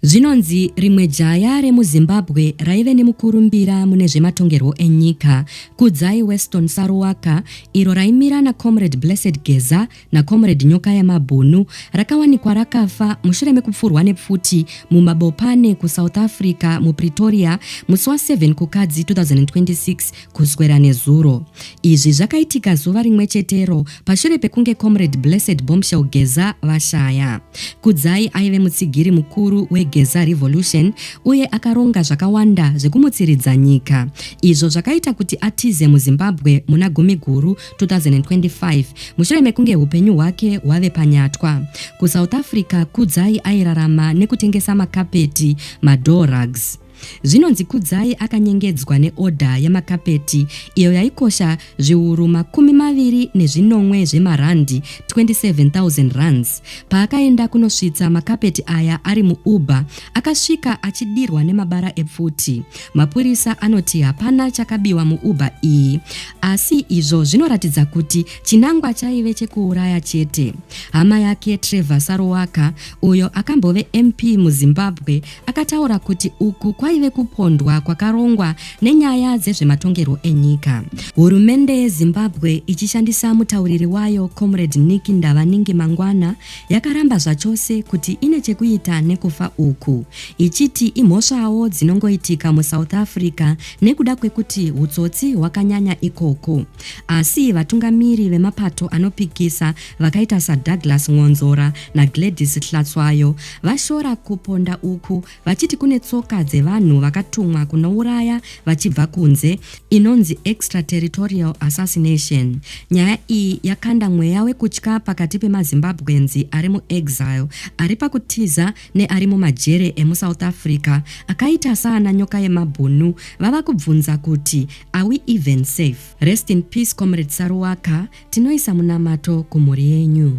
Zvinonzi rimwe jaya remuZimbabwe raive nemukurumbira mune zvematongerwo enyika, Kudzai Weston Saruwaka, iro raimira naComrade Blessed Geza naComrade Nyokaya Mabhunu, rakawanikwa rakafa mushure mekupfurwa nepfuti mumabopane kuSouth Africa, muPretoria, musi wa 7 Kukadzi 2026 Kuswera nezuro. Izvi zvakaitika zuva rimwe chetero pashure pekunge Comrade Blessed Bombshell Geza vashaya. Kudzai aive mutsigiri mukuru weGeza Revolution uye akaronga zvakawanda zvekumutsiridza nyika, izvo zvakaita kuti atize muZimbabwe muna Gumiguru 2025 mushure mekunge upenyu hwake hwave panyatwa. KuSouth Africa, Kudzai airarama nekutengesa makapeti, madoor rugs. Zvinonzi Kudzai akanyengedzwa neodha yamakapeti iyo yaikosha zviuru makumi maviri nezvinomwe zvemarandi, 27,000 rands. Paakaenda kunosvitsa makapeti aya ari muUber, akasvika achidirwa nemabara epfuti. Mapurisa anoti hapana chakabiwa muUber iyi, asi izvo zvinoratidza kuti chinangwa chaive chekuuraya chete. Hama yake Trevor Saruwaka, uyo akambove MP muZimbabwe, akataura kuti uku kwaive kupondwa kwakarongwa nenyaya dzezvematongerwo enyika. Hurumende yeZimbabwe ichishandisa mutauriri wayo Comrade Nick Ndavaningi mangwana yakaramba zvachose kuti ine chekuita nekufa uku, ichiti imhosvawo dzinongoitika muSouth Africa nekuda kwekuti hutsotsi hwakanyanya ikoko. Asi vatungamiri vemapato anopikisa vakaita saDouglas Mwonzora naGladys Hlatswayo vashora kuponda uku vachiti kune tsoka dzevanhu vakatumwa kunouraya vachibva kunze inonzi extraterritorial assassination. Nyaya iyi yakanda mweya wekutya pakati pemaZimbabwenzi ari muexile ari pakutiza neari mumajere emusouth Africa akaita saana nyoka yemabhunu vava kubvunza kuti are we even safe? Rest in peace comrade Saruwaka, tinoisa munamato kumhuri yenyu.